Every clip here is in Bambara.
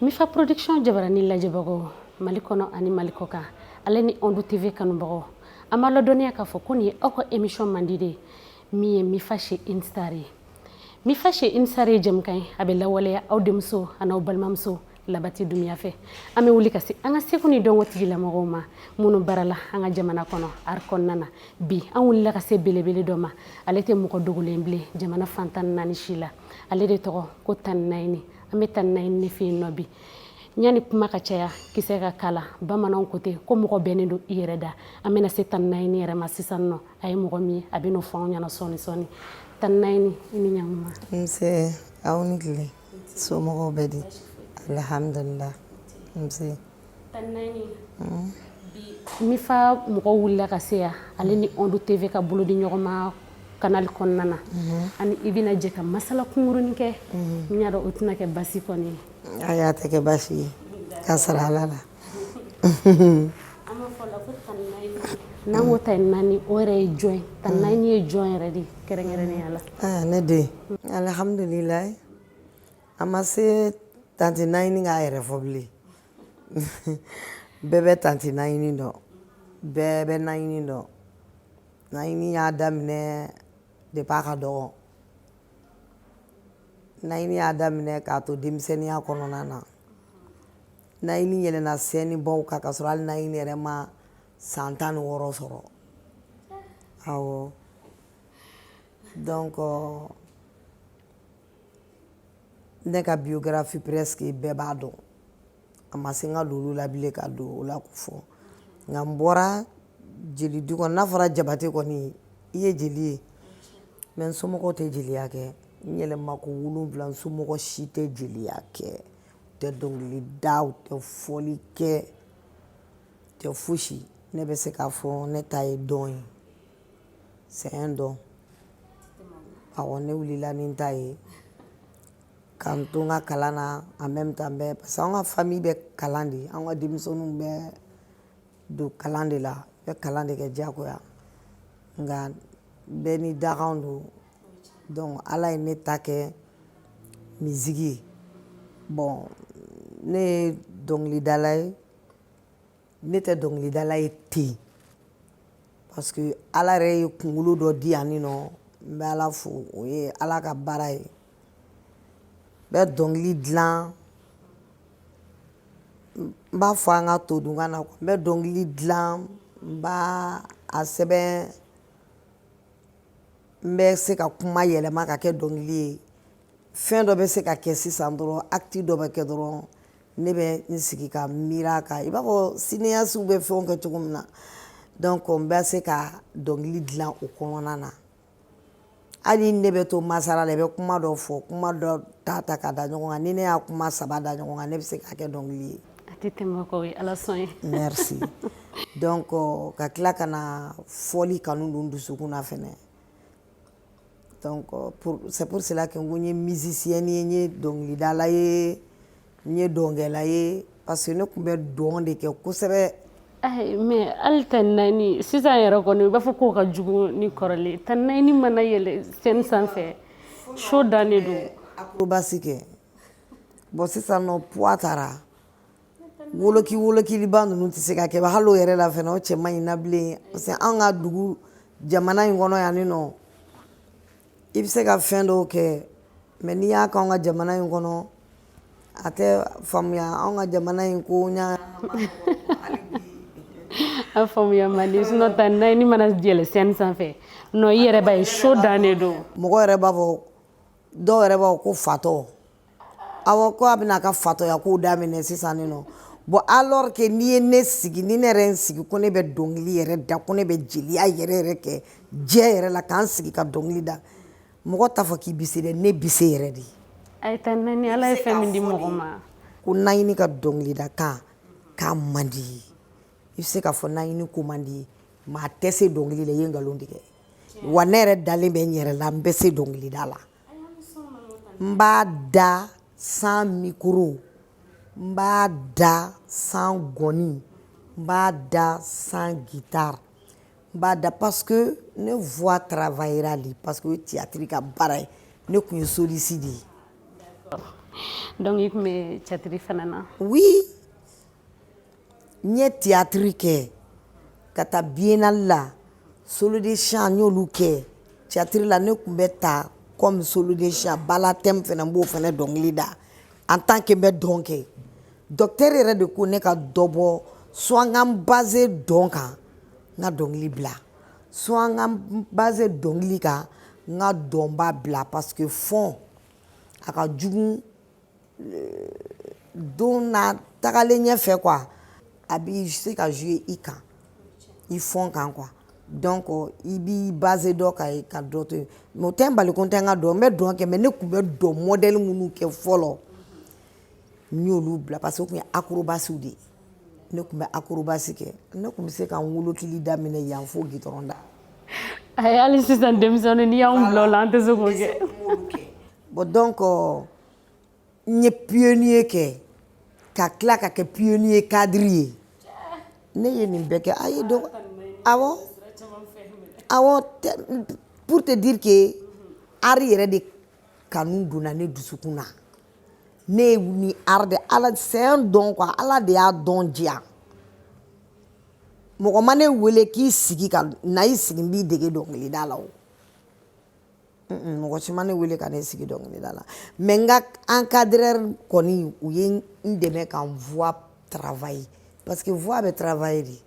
Mifa production jabarani lajɛbagaw Mali kɔnɔ ani Mali kɔkan ale ni Ondu TV kanubagaw an b'a ladɔnniya k'a fɔ ko nin ye aw ka émission mandi de min ye Mifa chez Une Star ye Mifa chez Une Star ye jɛmukan ye a bɛ lawaleya aw denmuso an'aw balimamuso labati dunya fɛ an bɛ wuli ka se an ka seko ni dɔnko tigilamɔgɔw ma minnu barala an ka jamana kɔnɔ art kɔnɔna na bi an wulila ka se belebele dɔ ma ale tɛ mɔgɔ dogolen bilen jamana fan tan naani si la ale de tɔgɔ ko tante naɲini an bɛ tante naɲini de fɛ yen nɔ bi ɲani kuma ka caya kisɛ ka kala bamananw ko ten ko mɔgɔ bɛnnen don i yɛrɛ da an bɛna se tante naɲini yɛrɛ ma sisan nɔ a ye mɔgɔ min ye a bɛ n'o fɔ anw ɲɛna sɔɔni sɔɔni tante naɲini i ni ɲankuma nse aw ni tile somɔgɔw bɛ di alihamdulilah nse Mifa mɔgɔw wulila ka se yan ale ni Ondu TV ka bolo di ɲɔgɔn ma kanali kɔnɔna na mhm. ani i bɛna jɛ ka masala kunkurunin kɛ mhm. n y'a dɔn o tɛna kɛ basi kɔni ye ayi a tɛ kɛ basi ye k'a sara ala la N'an ko tante naɲini o yɛrɛ ye jɔn ye tante naɲini ye jɔn yɛrɛ de kɛrɛnkɛrɛnnenya la ne den alihamdulila a ma se tante naɲini k'a yɛrɛ fɔ bilen bɛɛ bɛ tante naɲini dɔn bɛɛ bɛ naɲini dɔn naɲini y'a daminɛ depuis a ka dɔgɔ naɲini y'a daminɛ k'a to denmisɛnninya kɔnɔna na naɲini yɛlɛna scène baw kan k'a sɔrɔ hali naɲini yɛrɛ ma san tan ni wɔɔrɔ sɔrɔ awɔ donc ne ka biographie presque bɛɛ b'a dɔn a ma se n ka don olu la bilen ka don o la ko fɔ nka n bɔra jeli du kɔnɔ n'a fɔra jabate kɔni i ye jeli ye mais n somɔgɔw tɛ jeliya kɛ n yɛlɛma ko wolonwula n somɔgɔ si tɛ jeliya kɛ tɛ dɔnkili da u tɛ fɔli kɛ tɛ fosi ne bɛ se k'a fɔ ne ta ye don ye c'est un don awɔ ne wulila ni n ta ye ka n to n ka kalan na en même temps bɛɛ parce que an ka famille bɛ kalan de an ka denmisɛnninw bɛ don kalan de la bɛ kalan de kɛ diyagoya nka bɛɛ ni dakan don Donc ala ye ne ta kɛ musique ye bon ne ye dɔnkilidala ye ne tɛ dɔnkilidala ye ten yen parce que ala yɛrɛ ye kunkolo dɔ di yan nɔ n bɛ ala fo o ye ala ka baara ye n bɛ dɔnkili dila n b'a fɔ an ka todunkan na n bɛ dɔnkili dila n b'a sɛbɛn n bɛ se ka kuma yɛlɛma ka kɛ dɔnkili ye fɛn dɔ bɛ se ka kɛ sisan dɔrɔn acte dɔ bɛ kɛ dɔrɔn ne bɛ n sigi ka miiri a kan i b'a fɔ cinéastew bɛ fɛnw kɛ cogo min na donc n bɛ se ka dɔnkili dilan o kɔnɔna na hali ne bɛ to masara la i bɛ kuma dɔ fɔ kuma dɔ ta ta ka da ɲɔgɔn kan ni ne y'a kuma saba da ɲɔgɔn kan ne bɛ se k'a kɛ dɔnkili ye A tɛ tɛmɛ k'o ye ala sɔn ye merci donc ka tila ka na fɔli kanu don dusukun na fɛnɛ donc c'est pour cela que n ko n ye musicienne ye n ye dɔnkilidala ye n ye dɔnkɛla ye parce que ne tun bɛ dɔn de kɛ kosɛbɛ mais hali tani nayini sisan yɛrɛ kɔni i b'a fɔ k'o ka jugu ni kɔrɔlen tani nayini mana yɛlɛ scène sanfɛ show dannen don acrobatie kɛ bon sisan nɔ poids taara woloki wolokiliba ninnu tɛ se ka kɛ hali o yɛrɛ la fana o cɛ man ɲi na bilen parce que an ka dugu jamana in kɔnɔ yan ni nɔ i bɛ se ka fɛn dɔw kɛ mais n'i y'a k'an ka jamana in kɔnɔ a tɛ faamuya an ka jamana in ko ɲa a faamuya man di sinon tani nayini mana yɛlɛ scène sanfɛ non i yɛrɛ b'a ye show dannen don mɔgɔ yɛrɛ b'a fɔ dɔw yɛrɛ b'a ko fatɔ aw ko a bɛna a ka fatɔya kow daminɛ sisan nin nɔ bon alors que n'i ye ne sigi ni ne yɛrɛ n sigi ko ne bɛ dɔnkili yɛrɛ da ko ne bɛ jeliya yɛrɛ yɛrɛ kɛ diɲɛ yɛrɛ la k'an sigi ka dɔnkili da mɔgɔ t'a fɔ k'i bɛ se dɛ ne bɛ se yɛrɛ de ye ala ye fɛn min di mɔgɔ ma ko nayini ka dɔnkilidakan k'a man d'i ye i bɛ se k'a fɔ nayini ko man d'i ye mais a tɛ se dɔnkili la i ye nkalon tigɛ wa ne yɛrɛ dalen bɛ n yɛrɛ la n bɛ se dɔnkilida la n b'a da sans micro n b'a da sans gɔni n b'a da sans guitare n b'a da parce que ne voix travaillera de parce que o ye théâtre ka baara ye ne tun ye soliste de ye donc i tun bɛ théâtre fana na oui n ye tiyatiri kɛ ka taa biennale la solo de chant n y'olu kɛ tiyatiri la ne tun bɛ ta comme solo de chant ballet à thème fana n b'o fana dɔnkili da en tant que n bɛ dɔn kɛ docteur yɛrɛ de ko ne ka dɔ bɔ soit n ka n base dɔn kan n ka dɔnkili bila soit n ka n base dɔnkili kan n ka dɔnba bila parce que fɔn a ka jugu don na tagalen ɲɛfɛ quoi a bɛ se ka jouer i kan i fɔn kan quoi donc i b'i base dɔ kan ka dɔ to yen mais o tɛ n bali ko n tɛ n ka dɔn n bɛ dɔn kɛ mais ne tun bɛ dɔn modèle minnu kɛ fɔlɔ n y'olu bila parce que o tun ye acrobaties de ye ne tun bɛ acrobatie kɛ ne tun bɛ se ka n wolokili daminɛ yan fo gitɔrɔn da ayi hali sisan denmisɛnnin n'i y'anw bila o la an tɛ se k'o kɛ bon donc n ye pionnier kɛ ka tila ka kɛ pionnier cadre ye ne ye nin bɛɛ kɛ ayi donc awɔ awɔ pour te dire que art yɛrɛ de kanu donna ne dusukun na ne ye ni art de ala c'est un don quoi ala de y'a don diya mɔgɔ ma ne wele k'i sigi ka na i sigi n b'i dege dɔnkilida la o mɔgɔ si ma ne wele ka ne sigi dɔnkilida la mais n ka encadreur kɔni u ye n dɛmɛ ka n voix travailler parce que voix bɛ travailler de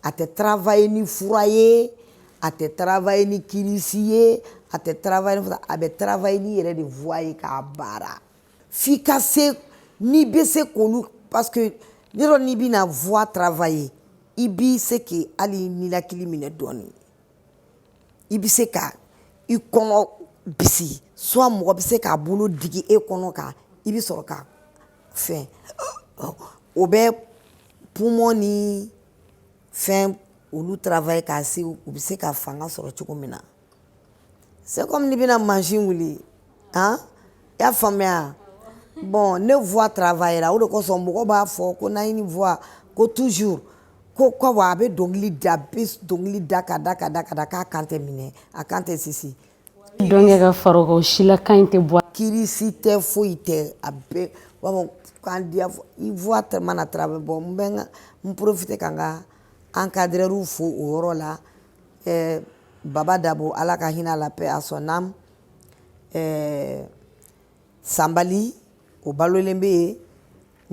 a tɛ travailler ni fura ye a tɛ travailler ni kirisi ye a tɛ travailler ni a bɛ travailler n'i yɛrɛ de voix ye k'a baara f'i ka se n'i bɛ se k'olu parce que ne dɔ n'i bɛna voix travailler i bɛ se k'i hali ninakili minɛ dɔɔnin i bɛ se ka i kɔnɔ bisi soit mɔgɔ bɛ se k'a bolo digi e kɔnɔ kan i bɛ sɔrɔ ka fɛn o bɛ poumon ni fɛn olu travailler k'a se u bɛ se ka fanga sɔrɔ cogo min na c'est comme n'i bɛna mansin wuli han i y'a faamuya bon ne voix travaillera o de kosɔn mɔgɔ b'a fɔ ko nayini voix ko toujours ko ko wa a bɛ dɔnkili da a bɛ dɔnkili da ka da ka da ka da k'a kan tɛ minɛ a kan tɛ sisi dɔnkɛ ka fara o kan o si la kan in tɛ bɔ kirisi tɛ foyi tɛ a bɛɛ u b'a fɔ kan diya fɔ i voix tɛ mana travailler bon n bɛ n ka n profiter ka n ka encadreur fo o yɔrɔ la ɛɛ baba dabo ala ka hinɛ a la paix à son âme ɛɛ sanbali o balolen bɛ yen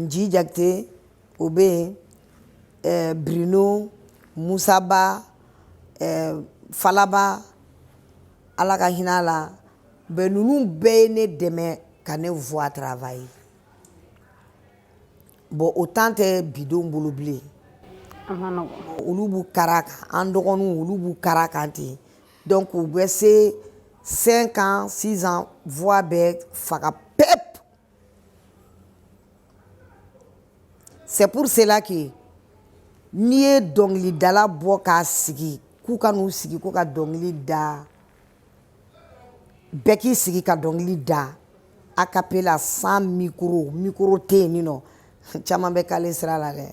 nji jakite o bɛ yen ɛɛ bruno musaba ɛɛ falaba ala ka hinɛ a la bɛn ninnu bɛɛ ye ne dɛmɛ ka ne voix travailler bon o temps tɛ bi denw bolo bilen olu b'u kar'a kan an dɔgɔninw olu b'u kar'a kan ten donc u bɛ se cinq ans six ans voix bɛ faga pep c'est pour cela que n'i ye dɔnkilidala bɔ k'a sigi k'u ka n'u sigi ko ka dɔnkili da bɛɛ k'i sigi ka dɔnkili da a cappella sans micro micro tɛ yen nin nɔ caman bɛ caler sira la dɛ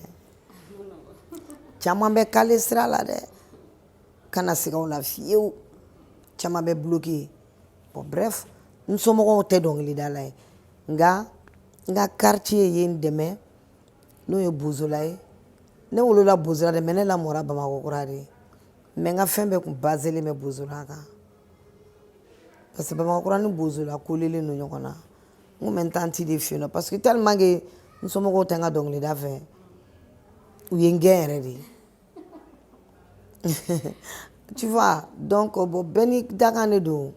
caman bɛ caler sira la dɛ kana siga o la fiyewu caman bɛ bloquer bon bref n somɔgɔw tɛ dɔnkilidala ye nka n ka quartier ye n dɛmɛ n'o ye bozola ye ne wolola bozola dɛ mais ne lamɔra bamakɔ kura de mais n ka fɛn bɛɛ kun baselen bɛ bozola kan parce que bamakɔ kura ni bozola kolelen don ɲɔgɔn na n kun bɛ n tanti de fɛ yen nɔ parce que tellement que n somɔgɔw tɛ n ka dɔnkilida fɛ u ye n gɛn yɛrɛ de tu vois donc bon bɛɛ ni dakan de don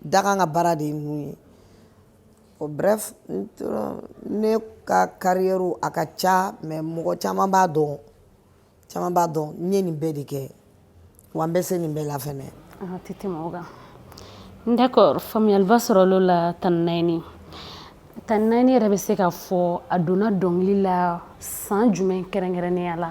dakan ka baara de ye ninnu ye bon bref n ne ka carrière a ka ca mais mɔgɔ caman b'a dɔn caman b'a dɔn n ye nin bɛɛ de kɛ wa n bɛ se nin bɛɛ la fɛnɛ tɛ tɛmɛ o kan d'accord faamuyaliba sɔrɔl'o la tani naani tani naani yɛrɛ bɛ se ka fɔ a donna dɔnkili la san jumɛn kɛrɛnkɛrɛnnenya la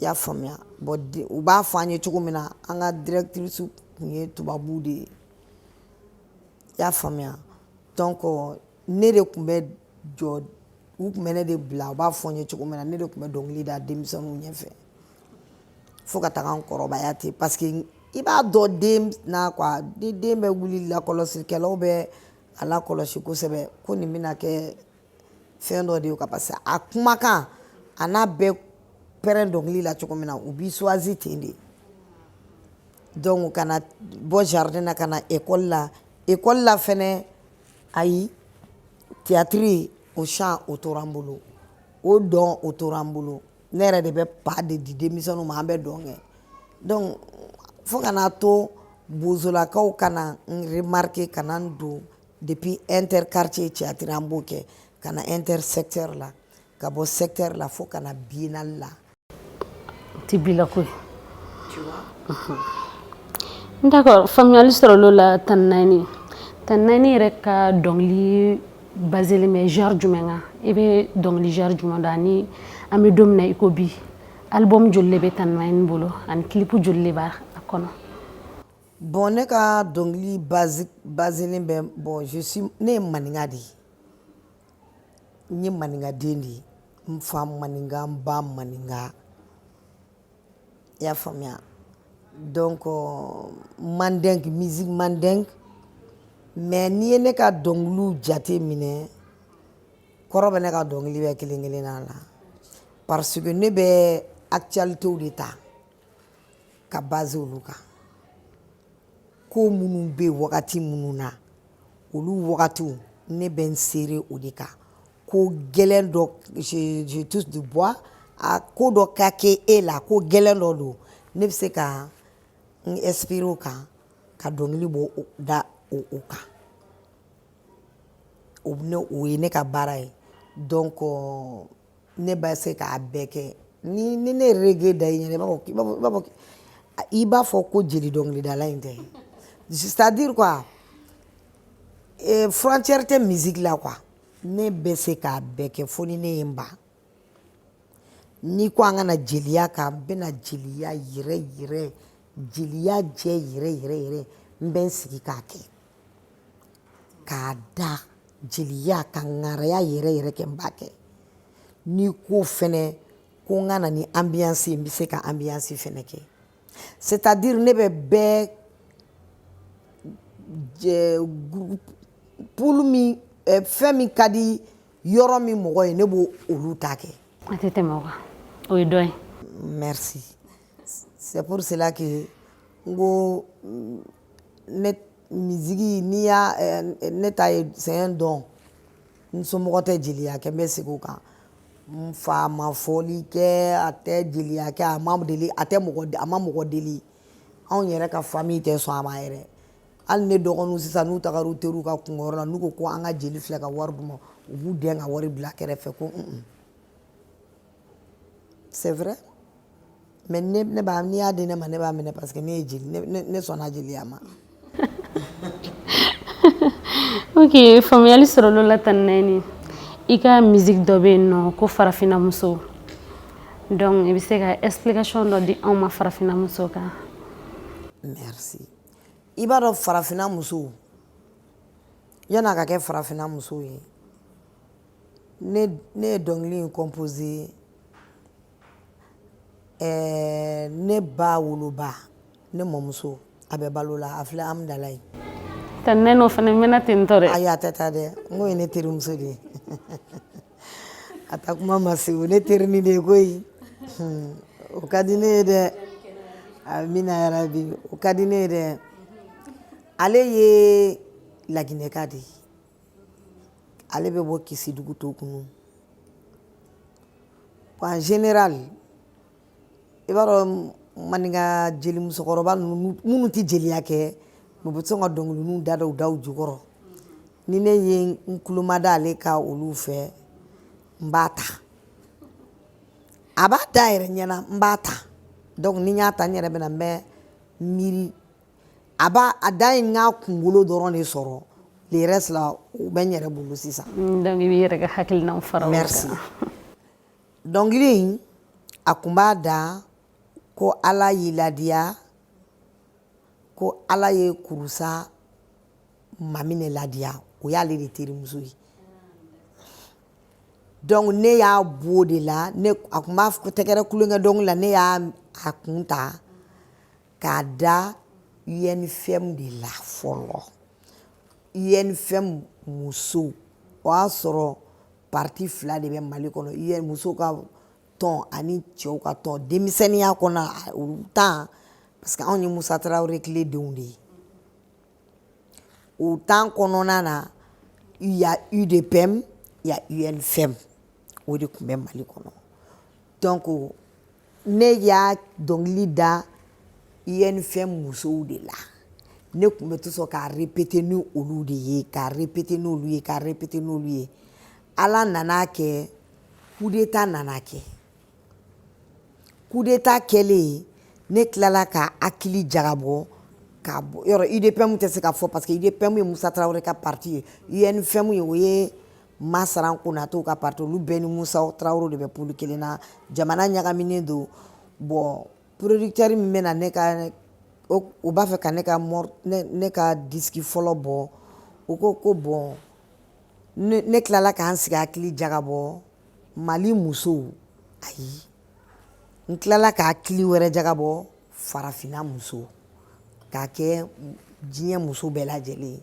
i y'a faamuya bon u b'a fɔ an ye cogo min na an ka directrice tun ye tubabu de ye i y'a faamuya donc ne de tun bɛ jɔ u tun bɛ ne de bila u b'a fɔ n ye cogo min na ne de tun bɛ dɔnkili da denmisɛnninw ɲɛfɛ fo ka taga n kɔrɔbaya ten parce que i b'a dɔn den na quoi ni den bɛ wuli lakɔlɔsikɛlaw bɛ a lakɔlɔsi kosɛbɛ ko nin bɛna kɛ fɛn dɔ de ye quoi parce que a kumakan an'a bɛ pɛrɛn dɔnkili la cogo min na u b'i choisir ten de donc ka na bɔ jardin na ka na école la école la fɛnɛ ayi tiyatiri o chant o tora n bolo o dɔn o tora n bolo ne yɛrɛ de bɛ pas de di denmisɛnninw ma an bɛ dɔn kɛ donc fo ka n'a to bozolakaw ka na n remarquer ka na n don Depuis interquartier théâtre an b'o kɛ ka na intersecteur la ka bɔ secteur la fo ka na biennale la tɛ bila koyi d'accord faamuyali sɔrɔla o la tani naani tani naani yɛrɛ ka dɔnkili baselen bɛ genre jumɛn kan i bɛ dɔnkili genre jumɛn da ani an bɛ don min na i ko bi album joli de bɛ tani naani bolo ani clip joli de b'a kɔnɔ Bon ne ka dɔnkili baselen bɛ bon ne ye maninka de ye n ye maninkaden de ye n fa maninka n ba maninka i y'a faamuya donc mandingue musique mandingue mais n'i ye ne ka dɔnkili jate minɛ kɔrɔ bɛ ne ka dɔnkili bɛɛ kelen kelenna la parce que ne bɛ actualitéw de ta ka basé olu kan ko minnu bɛ wagati minnu na olu wagatiw ne bɛ n seere o de kan ko gɛlɛn dɔ je touche du bois a ko dɔ ka kɛ e la ko gɛlɛn dɔ don ne bɛ se ka n inspiré o kan ka dɔnkili bɔ da o o kan o ne o ye ne ka baara ye donc euh, ne bɛ se k'a bɛɛ kɛ ni ni ne ye reggae da i ɲɛna i b'a fɔ b'a fɔ i b'a fɔ ko jeli dɔnkilidala in tɛ c'est à dire quoi eh, frontière tɛ musique la quoi ne bɛ se k'a bɛɛ kɛ fo ni ne ye n ban n'i ko an ka na jeliya kan n bɛna jeliya yɛrɛ yɛrɛ jeliya jɛ yɛrɛ yɛrɛ yɛrɛ n bɛ n sigi k'a kɛ k'a da jeliya ka ŋaraya yɛrɛ yɛrɛ kɛ n b'a kɛ n'i ko fɛnɛ ko n ka na ni ambiance ye n bɛ se ka ambiance fɛnɛ kɛ c'est à dire ne bɛ bɛɛ pulu min eh, fɛn min ka di yɔrɔ min mɔgɔ ye ne b'o olu ta kɛ a tɛ tɛmɛ o kan o ye dɔ ye merci c'est pour cela que n ko ne musique n'i y'a ne ta ye c'est un don n somɔgɔ tɛ jeliya kɛ n bɛ segin o kan n fa ma fɔli kɛ a tɛ jeliya kɛ a ma deli a tɛ mɔgɔ a ma mɔgɔ deli anw yɛrɛ ka famille tɛ sɔn a ma yɛrɛ hali ne dɔgɔninw sisan n'u tagara u teriw ka kunkɔrɔ la n'u ko ko an ka jeli filɛ ka wari d'u ma u b'u dɛn ka wari bila kɛrɛfɛ ko un c'est vrai mais ne ne b'a n'i y'a di ne ma ne b'a minɛ parce que ne ye jeli ne ne ne sɔnna jeliya ma. ok faamuyali sɔrɔla o la tanti Naïny i ka musique dɔ bɛ yen n'o ko farafinna muso donc i bɛ se ka explication dɔ di anw ma farafinna muso kan. merci i b'a dɔn farafinna muso yanni a ka kɛ farafinna muso ye. ne ne ye dɔnkili in composé ɛɛ ne ba woloba ne mɔmuso a bɛ balo la a filɛ Amudalayi tɛ ne n'o fana mɛnna ten tɔ dɛ ayi a tɛ taa dɛ n ko ye ne terimuso de ye a taa kuma ma se o ne terinin de ye koyi hmm, o ka di ne ye dɛ amina yarabi o ka di ne ye dɛ ale ye Laginɛka de ye ale bɛ bɔ Kisidugu Tokunu en général i b'a dɔn maninka jeli musokɔrɔba ninnu minnu tɛ jeliya kɛ u bɛ to sɔn ka dɔnkili ninnu da da u da jukɔrɔ ni ne ye n tulo mada ale ka olu fɛ n b'a ta a b'a da a yɛrɛ ɲɛna n b'a ta donc ni n y'a ta n yɛrɛ bɛna n bɛ miiri a b'a a da in n k'a kunkolo dɔrɔn de sɔrɔ le reste là o bɛ n yɛrɛ bolo sisan mm, donc i b'i yɛrɛ ka hakilinaw fara o kan merci dɔnkili in a tun b'a da ko ala y'i ladiya ko ala ye Kurusa Mamine ladiya o y'ale de terimuso ye donc ne y'a bɔ o de la ne a tun b'a tɛgɛrɛ tulonkɛ dɔnkili la ne y'a a kun ta k'a da UNFM de la fɔlɔ UNFM muso o y'a sɔrɔ parti fila de bɛ Mali kɔnɔ musow ka tɔn ani cɛw ka tɔn denmisɛnninya kɔnɔ o temps parce que anw ye Musa Tarawele tile denw de ye o temps kɔnɔna na il y a UDPM il y a UNFM o de tun bɛ Mali kɔnɔ donc ne y'a dɔnkili da UNFM musow de la ne tun bɛ to sɔn k'a répéter ni olu de ye k'a répéter n'olu ye k'a répéter n'olu ye Ala nan'a kɛ coup d'état nana kɛ coup d'état kɛlen ne tilala ka hakili jagabɔ ka bɔ yɔrɔ UDPM tɛ se ka fɔ parce que UDPM ye Musa Tarawele ka parti ye UNFM ye o ye masaran konatɛw ka parti olu bɛɛ ni musa tarawelew de bɛ pulu kelen na jamana ɲagaminen don bon producteur min bɛna ne ka o b'a fɛ ka ne ka ne ka disiki fɔlɔ bɔ o ko ko bon ne tilala ka n sigi hakili jagabɔ mali musow ayi n tilala ka hakili wɛrɛ jagabɔ farafinna muso k'a kɛ diɲɛ muso bɛɛ lajɛlen ye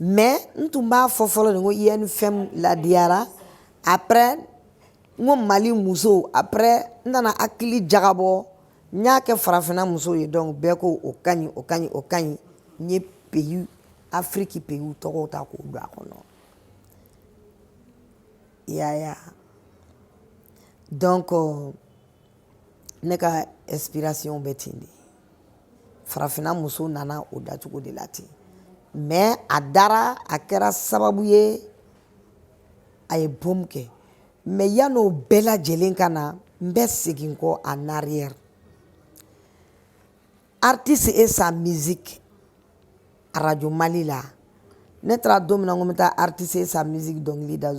mais n tun b'a fɔ fɔlɔ de ko unfm ladiyara après n ko mali musow après n nana hakili jagabɔ n y'a kɛ farafinna musow ye donc bɛɛ ko o ka ɲi o ka ɲi o ka ɲi n ye pays afiriki peyiw tɔgɔw ta k'o don a kɔnɔ yaya donc euh, ne ka inspiration bɛ ten de farafinna muso nana o dacogo de la ten mais a dara a kɛra sababu ye a ye boom kɛ mais yan'o bɛɛ lajɛlen ka na n bɛ segin kɔ en arrière Artiste et sa musique arajo mali la ne taara don min na n ko n bɛ taa artiste et sa musique dɔnkili da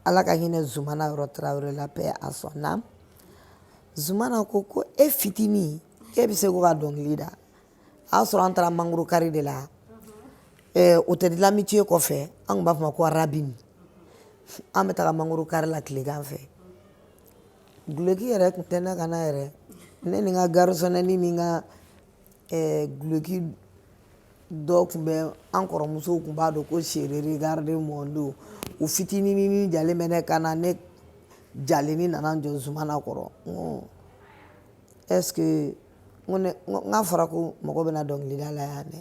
ala ka hinɛ zumana yɔrɔ tarawele la paix à son âme zumana ko ko e fitinin k'e bɛ se ko ka dɔnkili da a y'a sɔrɔ an taara mangoro kari de la hôtel de l'amitié kɔfɛ an tun b'a fɔ ma ko rabin an bɛ taga mangoro kari la tilegan fɛ Gloki yɛrɛ tun tɛ ne kan na yɛrɛ ne ni n ka garisɔnɛnin ni n ka gloki dɔ tun bɛ an kɔrɔmusow tun b'a don ko chérie regarde mon dos o fitinin jalen bɛ ne kan na ne jalennin nana jɔ zumana kɔrɔ est-ce que n k'a fɔra ko mɔgɔ bɛna dɔnkili da la yan dɛ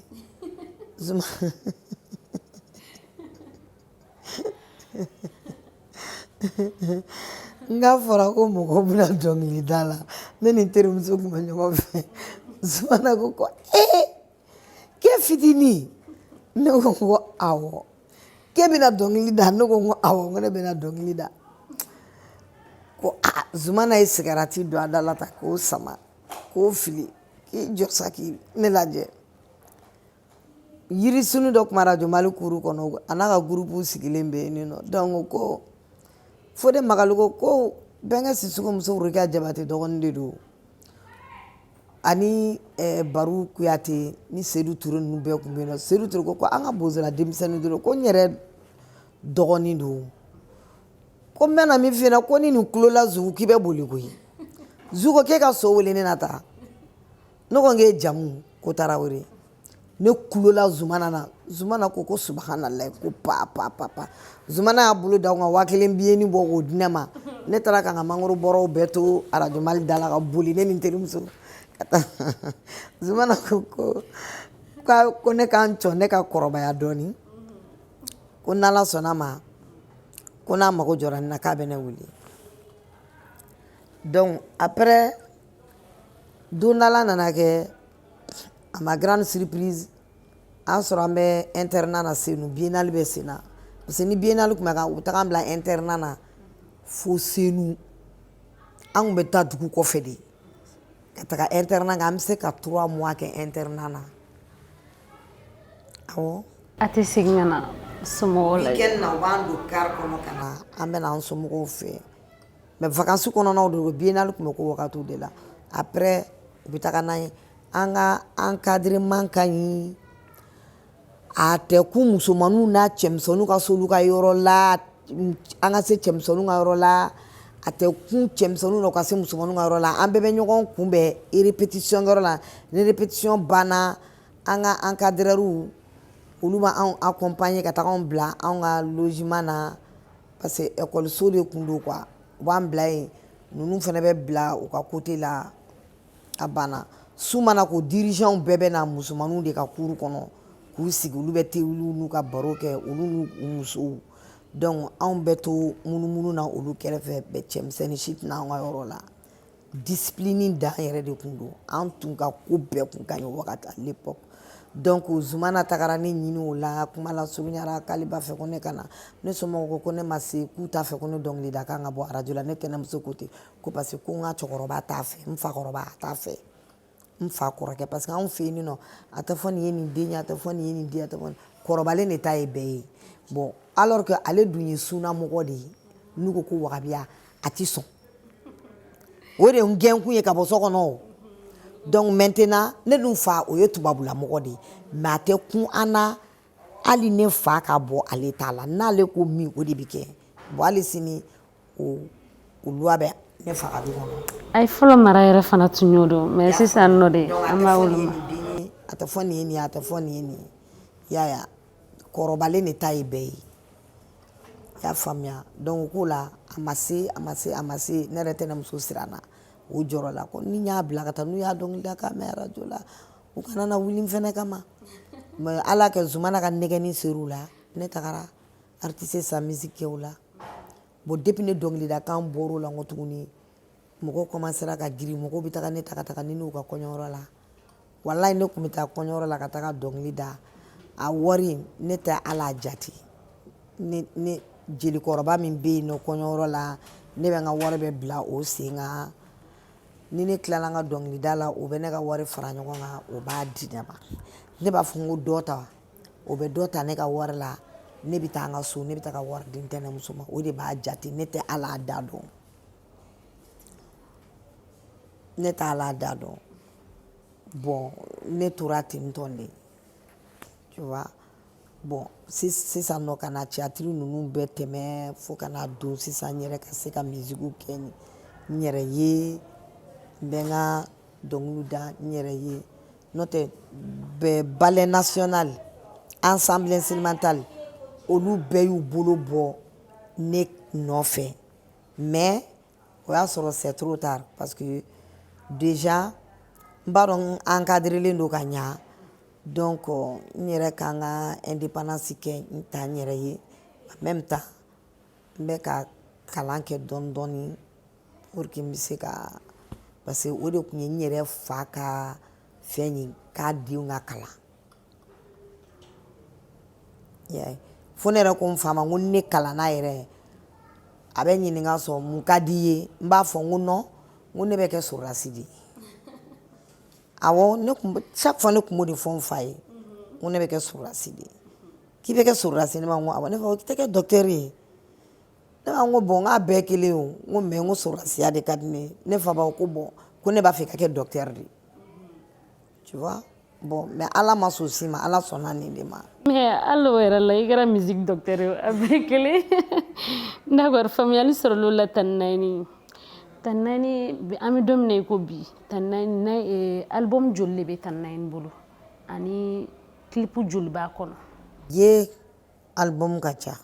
N k'a fɔra ko mɔgɔ bɛna dɔnkili da la ne ni n terimuso tun bɛ ɲɔgɔn fɛ zumana ko ko ee k'e fitinin ne ko n ko awɔ k'e bɛna dɔnkili da ne ko n ko awɔ n ko ne bɛna dɔnkili da ko aa zumana ye sigarati don a da la ta k'o sama k'o fili k'i jɔ sa ka ne lajɛ yirisun dɔ tun bɛ rajo mali kuru kɔnɔ a n'a ka gurupu sigilen bɛ yen nɔ donc ko fode magalu ko bɛnkɛ sisoko muso rukaya jabate dɔgɔnin de don ani eh, baru kuyate ni sedu ture ninnu bɛɛ tun bɛ yen nɔ sedu ture ko ko an ka bozola denmisɛnnin dɔrɔn ko n yɛrɛ dɔgɔnin don ko n bɛna min f'i ɲɛna ko ni nin tulola zugu k'i bɛ boli koyi zugu ko k'e ka so wele ne na taa ne ko n k'e jamu ko tarawele ne kulola zumana na zumana ko ko subahanallahi ko pa pa pa pa zumana y'a bolo d'a kun ka waa kelen biyenin bɔ k'o di ne ma ne taara ka n ka mangoro bɔrɔw bɛɛ to arajo mali da la ka boli ne ni n terimuso ka taa zumana ko ko ka ko ne ka n jɔ ne ka kɔrɔbaya dɔɔni ko n'ala sɔnn'a ma ko n'a mago jɔra ne na k'a bɛ ne wele donc après don dɔ la a nana kɛ à ma grande surprise a y'an sɔrɔ an bɛ internat na Senu biennale bɛ sen na parce que ni biennale tun bɛ kɛ u bɛ taga an bila internat na fo Senu an tun bɛ taa dugu kɔfɛ de ka taga internat kɛ an bɛ se ka trois mois kɛ internat na awɔ. a tɛ segin ka na somɔgɔw lajɛ. weekend na u b'an don car kɔnɔ ka na an bɛ na an somɔgɔw fɛ mais vacances kɔnɔnaw de don biennale tun bɛ k'o wagatiw de la après u bɛ taga n'an ye an ka encadrement ka ɲi a tɛ kun musomaninw na cɛmisɛnninw ka s'olu ka yɔrɔ la an ka se cɛmisɛnninw ka yɔrɔ la a tɛ kun cɛmisɛnninw na u ka se musomaninw ka yɔrɔ la an bɛɛ bɛ ɲɔgɔn kunbɛn répétition yɔrɔ la ni répétition banna an ka encadreurs olu b'an accompagner ka taga anw bila anw ka logement na parce que ekɔliso de tun don quoi u b'an bila yen ninnu fana bɛ bila u ka côté la a banna su mana ko dirijanw bɛɛ bɛ na musomanninw de ka cour kɔnɔ k'u sigi olu bɛ tewuliw n'u ka baro kɛ olu n'u u musow donc anw bɛ to munumunu na olu kɛrɛfɛ bɛ cɛmisɛnnin si tɛ na an ka yɔrɔ la discipline dan yɛrɛ de tun don an tun ka ko bɛɛ tun ka ɲi wagati à l'époque donc zumana tagara ne ɲini o la kuma lasurunyara k'ale b'a fɛ ko ne ka na ne somɔgɔw ko ko ne ma se k'u t'a fɛ ko ne dɔnkilida kan ka bɔ arajo la ne tɛnɛmuso ko ten ko parce que ko n ka cɛkɔrɔba t'a fɛ n fakɔrɔba a t'a fɛ n fa kɔrɔkɛ parce que anw fɛ yen nɔ a tɛ fɔ nin ye nin den ye a tɛ fɔ nin ye nin den a tɛ fɔ kɔrɔbalen de ta ye bɛɛ ye bon alors que ale dun ye sunnamɔgɔ de ye n'u ko ko wagabiya a tɛ sɔn o de ye n gɛnkun ye ka bɔ so kɔnɔ o donc maintenant ne dun fa o ye tubabulamɔgɔ de ye mais a tɛ kun an na hali ne fa ka bɔ ale ta la n'ale ko min o de bɛ kɛ bon hali sini A ye fɔlɔ mara yɛrɛ fana tun y'o don mais sisan nɔ de an b'a woloma a tɛ fɔ nin a tɛ fɔ nin nin ye kɔrɔbalen de ta ye bɛɛ ye i y'a faamuya donc o ko la a ma se a ma se a ma se ne yɛrɛ tɛnɛmuso siranna o jɔrɔla ko ni n y'a bila ka taa n'u y'a dɔnkilida kan mɛn arajo la u kana na wuli n fana kama mais ala y'a kɛ zumana ka nɛgɛnni ser'u la ne tagara artiste sa musique kɛ o la bon depuis ne dɔnkilidakan bɔr'o la n ko tuguni mɔgɔw commencera ka girin mɔgɔw bɛ taga ne ta ka taga ni ne y'u ka kɔɲɔyɔrɔ la walayi ne tun bɛ taa kɔɲɔyɔrɔ la ka taga dɔnkili da a wari ne tɛ ala a jate ne ne jelikɔrɔba min bɛ yen nɔ kɔɲɔyɔrɔ la ne bɛ n ka wari bɛɛ bila o sen kan ni ne tilala n ka dɔnkilida la o bɛ ne ka wari fara ɲɔgɔn kan o b'a di ne ma ne b'a fɔ n ko dɔ ta o bɛ dɔ ta ne ka wari la ne bɛ taa n ka so ne bɛ taa ka wari di n tɛnɛmuso ma o de b'a jate ne tɛ ala a da dɔn ne t'a ala a da dɔn bon ne tora ten tɔn de tu vois bon sisan nɔ ka na tiyatiri ninnu bɛɛ tɛmɛ fo ka na don sisan n yɛrɛ ka se ka mizigiw kɛ n yɛrɛ ye n bɛ n ka dɔnkiliw da n yɛrɛ ye n'o tɛ ballet national ensemble instrumental olu bɛɛ y'u bolo bɔ ne nɔfɛ mais o y'a sɔrɔ c'est trop tard parce que déjà n b'a dɔn n encadrélen don ka ɲa donc n yɛrɛ ka n ka indépendance kɛ n ta n yɛrɛ ye en même temps n bɛ ka kalan kɛ dɔɔni dɔɔni pour que n bɛ se ka parce que o de tun ye n yɛrɛ fa ka fɛn ye k'a denw ka kalan yɛ fo ne yɛrɛ ko n fa ma ko ni ne kalanna yɛrɛ a bɛ n ɲininka sɔrɔ mun ka di i ye n b'a fɔ n ko non n ko ne bɛ kɛ sɔrɔdasi de ye awɔ ne tun bɛ chaque fois ne tun b'o de fɔ n fa ye n ko ne bɛ kɛ sɔrɔdasi de ye k'i bɛ kɛ sɔrɔdasi ne ma n ko awɔ ne fa ko i tɛ kɛ docteur ye ne b'a n ko bon n k'a bɛɛ kelen o n ko mais n ko sɔrɔdasiya de ka di ne ne fa b'a ko bon ko ne b'a fɛ i ka kɛ docteur de tu vois bon mais ala ma sɔn si ma ala sɔnna nin de ma mais hali o yɛrɛ la i kɛra musique docteur ye a bɛɛ kelen d'accord faamuyali sɔrɔl'o la Tanti Naïny Tanti Naïny an bɛ don min na i ko bi Tanti Naïny eh, album joli de bɛ Tanti Naïny bolo ani clip joli b'a kɔnɔ ye album ka ca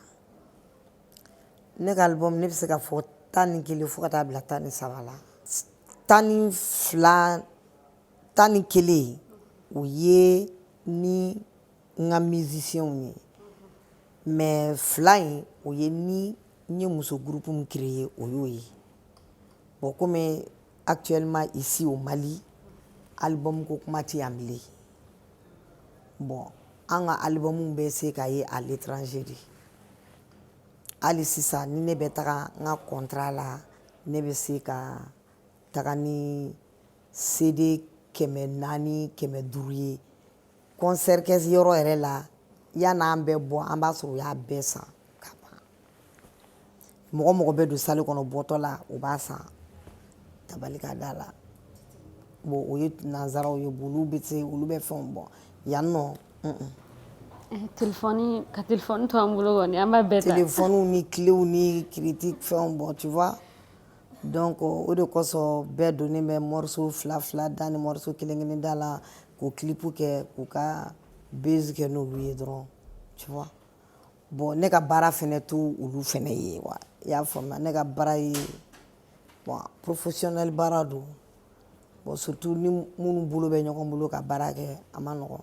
ne ka album ne bɛ se ka fɔ tan ni kelen fo ka taa bila tan ni saba la tan ni fila tan ni kelen o ye ni n ka musicienw ye mais fila in o ye ni n ye muso groupe min créer ye o y'o ye bon comme Actuellement ici au Mali album ko kuma tɛ yan bilen bon an ka album bɛ se ka ye à l'étranger de hali sisan ni ne bɛ taga n ka contrat la ne bɛ se ka taga ni CD kɛmɛ naani kɛmɛ duuru ye kɔnsɛri kɛ yɔrɔ yɛrɛ la yan'an bɛ bɔ an b'a sɔrɔ u y'a bɛɛ san ka ban mɔgɔ mɔgɔ bɛ don sali kɔnɔ bɔtɔ la u b'a san tabali kan da la bon o ye nanzaraw ye bon olu bɛ se olu bɛ fɛnw bɔ yan nɔ eh, telefɔni ka telefɔni to an bolo kɔni an b'a bɛɛ ta telefɔniw ni kilew ni kiritiki fɛnw bɔ tu vois Donc o de kosɔn bɛɛ donnen bɛ moriso fila fila da ni moriso kelen kelen da la k'o kilipu kɛ k'u ka base kɛ n'olu ye dɔrɔn tu vois bon ne ka baara fɛnɛ t'olu fɛnɛ ye wa i y'a faamuya ne ka baara ye porofesiyonɛli baara don bon surtout ni minnu bolo bɛ ɲɔgɔn bolo ka baara kɛ a man nɔgɔn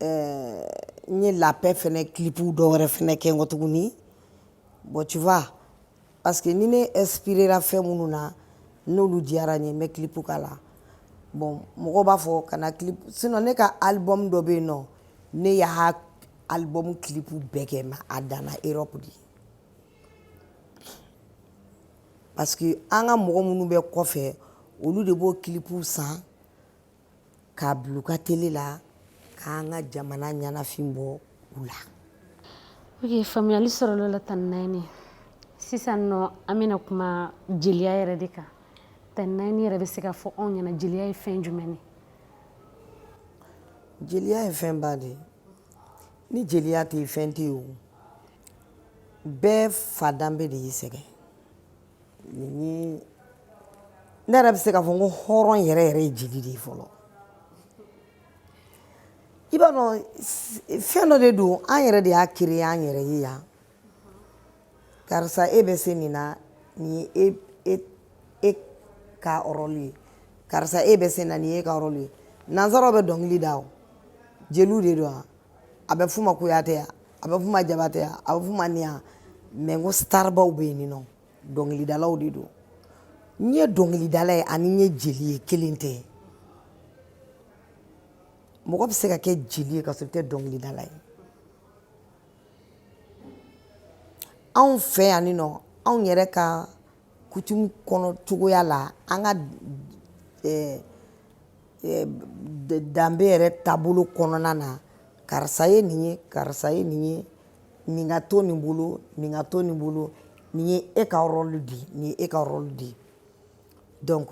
n ye la paix fɛnɛ kilipu dɔ wɛrɛ fɛnɛ kɛ n kɔ tuguni bon tu vois parce que ni ne inspirera fɛn minnu na n'olu diyara n ye n bɛ kilipu k'a la bon mɔgɔw b'a fɔ kana kilipu sinon ne ka album dɔ bɛ yen nɔ ne y'a album kilipu bɛɛ kɛ mais a danna europe de parce que an ka mɔgɔ minnu bɛ kɔfɛ olu de b'o kilipu san k'a bila u ka tele la k'an ka jamana ɲɛnafin bɔ u la ok faamuyali sɔrɔla la tanti Nayini sisan nɔ an bɛna kuma jeliya yɛrɛ de kan tanti Nayini yɛrɛ bɛ se k'a fɔ anw ɲɛna jeliya ye fɛn jumɛn ye jeliya ye fɛnba de ye ni jeliya tɛ yen fɛn tɛ yen o bɛɛ fa danbe de y'i sɛgɛn ne yɛrɛ bɛ se k'a fɔ ko hɔrɔn yɛrɛ yɛrɛ ye jeli de ye fɔlɔ i b'a dɔn fɛn dɔ de don an yɛrɛ de y'a créer an yɛrɛ ye yan karisa e bɛ se nin na nin ye e e ka rɔli ye karisa e bɛ se na nin ye e ka rɔli ye nansaraw bɛ dɔnkili da o jeliw de don wa a bɛ f'u ma kuyatɛya a bɛ f'u ma jabatɛya a bɛ f'u ma ninya mais ko starbaw bɛ yen nɔ dɔnkilidalaw de don n ye dɔnkilidala ye ani n ye jeli ye kelen tɛ mɔgɔ bɛ se ka kɛ jeli ye ka sɔrɔ i tɛ dɔnkilidala ye anw fɛ yan ni nɔ anw yɛrɛ ka kutumu kɔnɔ cogoya la an ka eh, eh, danbe yɛrɛ taabolo kɔnɔna na karisa ye nin ye karisa ye nin ye nin ka to nin bolo nin ka to nin bolo nin ye e ka rɔlu de ye nin ye e ka rɔlu de ye donc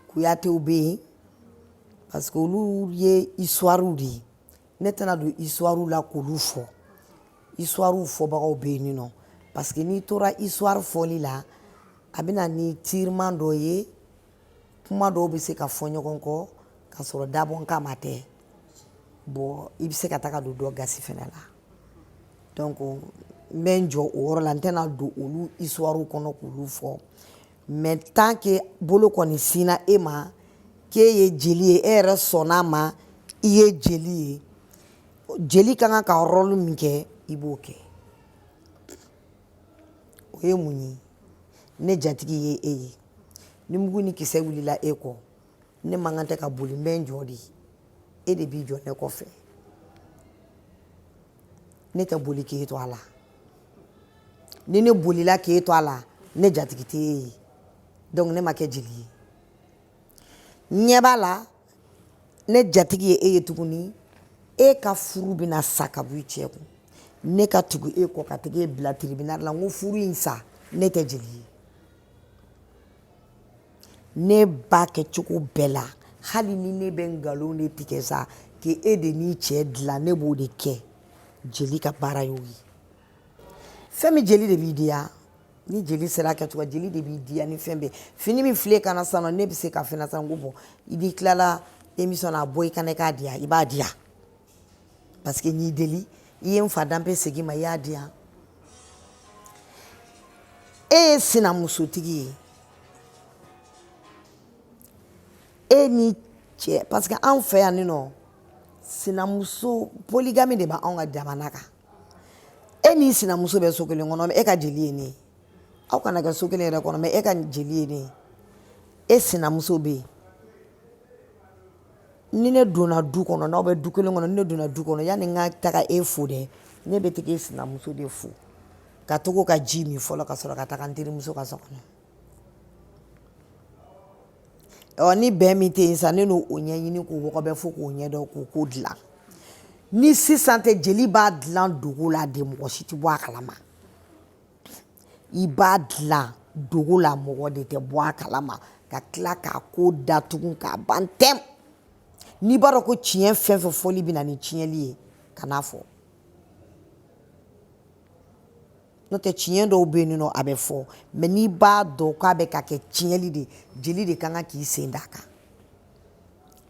kuyatew bɛ yen parce que olu ye histoire de ye ne tɛna don isuwariw la k'olu fɔ isuwariw fɔbagaw bɛ yen nɔ parce que n'i tora isuwari fɔli la a bɛna ni tiriman dɔ ye kuma dɔw bɛ se ka fɔ ɲɔgɔn kɔ k'a sɔrɔ dabɔ kama tɛ bon i bɛ se ka taga don dɔ gasi fana la donc n bɛ n jɔ o yɔrɔ la n tɛna don olu isuwariw kɔnɔ k'olu fɔ mais tant que bolo kɔni sinna e ma k'e ye jeli ye e yɛrɛ sɔnn'a ma i ye jeli ye jeli ka kan ka rɔlu min kɛ i b'o kɛ o ye mun ye ne jatigi ye e ye ni mugu ni kisɛ wulila e kɔ ne man kan tɛ ka boli n bɛ n jɔ de e de b'i jɔ ne kɔfɛ ne tɛ boli k'e to a la ni ne bolila k'e to a la ne jatigi tɛ e ye donc ne ma kɛ jeli ye ɲɛ b'a la ne jatigi ye e ye tuguni e ka furu bɛna sa ka bɔ i cɛ kun ne ka tugu e kɔ ka taga e bila tribunal la n ko furu in sa ne tɛ jeli ye ne b'a kɛ cogo bɛɛ la hali ni ne bɛ nkalon de tigɛ sa k'e de n'i cɛ dilan ne b'o de kɛ jeli ka baara y'o ye fɛn min jeli de b'i diya ni jeli sera a kɛcogo jeli de b'i diya ni fɛn bɛɛ fini min fil'e kan na sisan nɔ ne bɛ se k'a f'e ye sisan ko bon i b'i tilala emisɔn na a bɔ i kan na i k'a di yan i b'a di yan parce que n'i deli i ye n fa danbe segin ma i y'a di yan e ye sinamusotigi ye e n'i cɛ parce que anw fɛ yan ni nɔ sinamuso poligami de b'anw ka jamana kan e n'i sinamuso bɛ so kelen kɔnɔ e ka jeli ye ne ye aw kana kɛ so kelen yɛrɛ kɔnɔ mais e ka jeli ye ne ye e sinamuso bɛ yen ni ne donna du kɔnɔ n'aw bɛ du kelen kɔnɔ ni ne donna du kɔnɔ yanni n ka taga e fo dɛ ne bɛ taga e sinamuso de fo ka tag'o ka ji min fɔlɔ ka sɔrɔ ka taga n terimuso ka so kɔnɔ ɔ ni bɛn min tɛ yen sa ne n'o ɲɛɲini k'o wɔgɔbɛ fo k'o ɲɛdɔn k'o ko dilan ni sisan tɛ jeli b'a dilan dogo la de mɔgɔ si tɛ bɔ a kalama i b'a dilan dogo la mɔgɔ de tɛ bɔ a kalama ka tila k'a ko datugu k'a ban tɛm n'i b'a dɔn ko tiɲɛ fɛn fɛn fɔli bɛ na ni tiɲɛli ye kan'a fɔ n'o tɛ tiɲɛ dɔw bɛ yen nɔ a bɛ fɔ mais n'i b'a dɔn k'a bɛ ka kɛ tiɲɛli de jeli de ka kan k'i sen d'a kan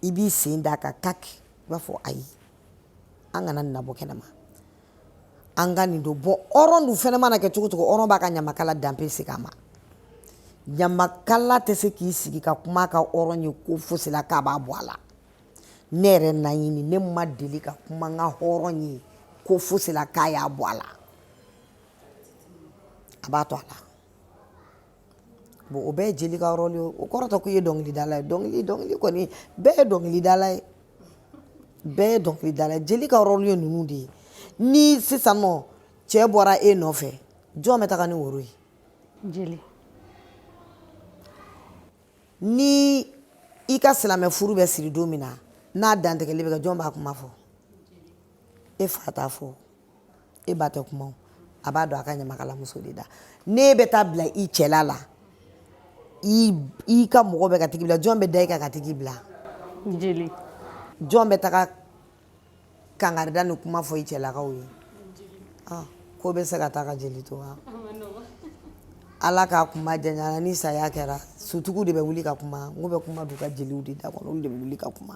i b'i sen d'a kan kaki i b'a fɔ ayi an kana nin nabɔ kɛnɛ ma an ka nin dɔn bon hɔrɔn dun fɛnɛ mana kɛ cogo cogo hɔrɔn b'a ka ɲamakala danbe segin a ma ɲamakala tɛ se k'i sigi ka kuma a ka hɔrɔn ye ko fosi la k'a b'a bɔ a la ne yɛrɛ naɲini ne ma deli ka kuma n ka hɔrɔn ye ko fosi la k'a y'a bɔ a la a b'a to a la bon o bɛɛ ye jeli ka rɔli ye o kɔrɔ tɛ k'i ye dɔnkilidala ye dɔnkili dɔnkili kɔni bɛɛ ye dɔnkilidala ye bɛɛ ye dɔnkilidala ye jeli ka rɔli ye ninnu de ye ni sisan nɔ cɛ bɔra e nɔfɛ jɔn bɛ taga ni woro ye jeli ni i ka silamɛ furu bɛ siri don min na n'a dantigɛli bɛ kɛ jɔn b'a kuma fɔ e fa t'a fɔ e ba tɛ kuma a b'a don a ka ɲamakalamuso de da n'e bɛ taa bila i cɛla la i ka mɔgɔ bɛ ka tag'i bila jɔn bɛ da i kan ka tag'i bila jeli jɔn bɛ taga kankaridali kuma fɔ i cɛlakaw ye ah, ko bɛ se ka taa ka jeli to wa ala k'a kuma janya an na ni saya kɛra sutigiw de bɛ wuli ka kuma n k'u bɛ kuma don u ka jeliw de da kɔnɔ olu de bɛ wuli ka kuma